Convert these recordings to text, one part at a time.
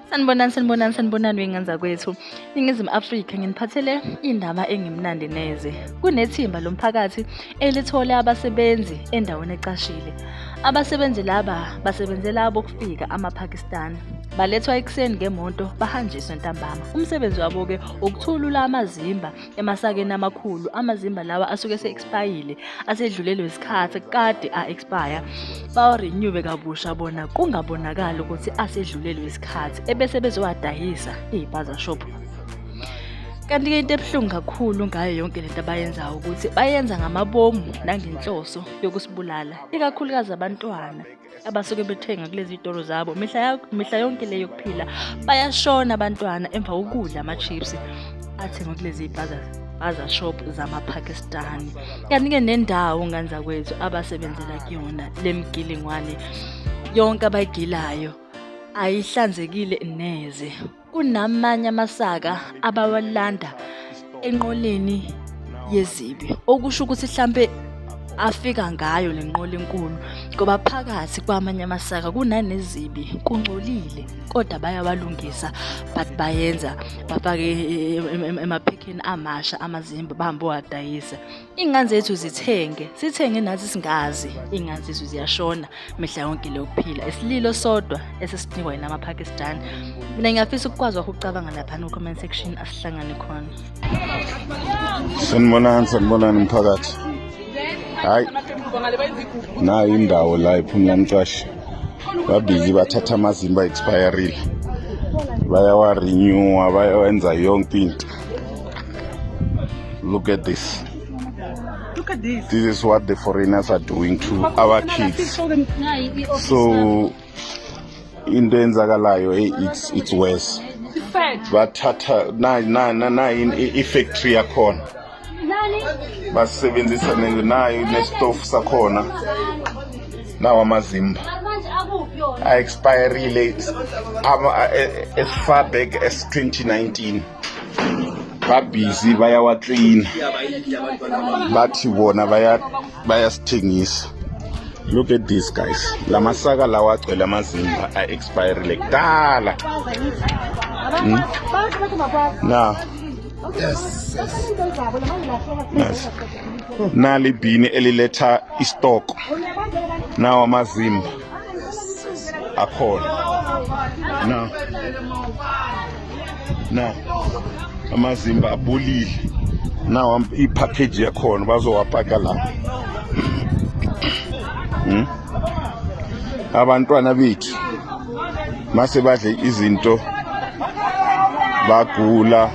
Sanibonani sanibonani sanibonani wenganza kwethu. Ningizimu Afrika nginiphathele indaba engimnandi neze. Kunethimba lomphakathi elithole abasebenzi endaweni ecashile. Abasebenzi laba basebenzela abokufika amaPakistan. Balethwa ekuseni ngemoto bahanjiswe ntambama. Umsebenzi wabo ke ukuthulula amazimba emasakeni amakhulu amazimba lawa asuke ese-expayile asedlulelwe isikhathi kade a-expire bawarenyuwe kabusha bona kungabonakali ukuthi asedlulelwe isikhathi ebese bezowadayisa iy'paza shop kanti-ke into ebuhlungu kakhulu ngayo yonke lento abayenzayo ukuthi bayenza ngamabomu nangenhloso yokusibulala ikakhulukazi abantwana abasuke bethenga kulezi zitolo zabo mihla mihla yonke leyo kuphila bayashona abantwana emva kokudla ama-chips athengwe kulezi zipaza baza shop zamapakistani kanti-ke nendawo ngane zakwethu abasebenzela kuyona le mgilingwane yonke abayigilayo ayihlanzekile neze Kunamanye amasaka abawalanda enqoleni yezibi okusho ukuthi hlampe afika ngayo le nqola enkulu ngoba phakathi kwamanye amasaka kunanezibi kungcolile kodwa bayawalungisa but bayenza bafake emaphekheni amasha amazimba bahambe owadayisa Iy'ngane zethu zithenge, sithenge nathi singazi. Iy'ngane zethu ziyashona mihla yonke le yokuphila. Isililo sodwa esesinikwa yina amaPakistan. Mina ngiyafisa ukukwazi wakho ukucabanga laphana ku-comment section asihlangane khona. Sanibonani, sanibonani mphakathi. Hayi. Nayo indawo la iphumla mcashe. Babili bathatha amazimba expireile. Bayawarenewa, bayawenza yonke into. Look at this. Look at this. This is what the foreigners are doing to our kids. So into enzakalayo eh, it's it's worse. Bathatha na na na na in i factory yakhona. Basebenzisa nayo nestofu sakhona. nawa amazimba a-expirile esifar back es-2019 babhizi bayawaklina bathi bona bayasithengisa look at this guys la masaka lawa agcwele amazimba a-expirile kudala hmm? na Yes, yes. Nice. Nali bhini eliletha istoko. Nawa amazimba. Akhona. Na. Na. Amazimba abulile. Nawa ipackage yakhona bazowapaka la. Hmm? Abantwana bethu mase badle izinto bagula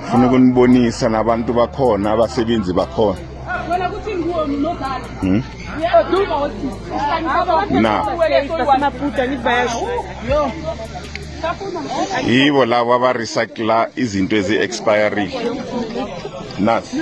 funa ukunibonisa nabantu bakhona abasebenzi bakhona hmm? na yibo labo abarecycla izinto ezi-expiring nasi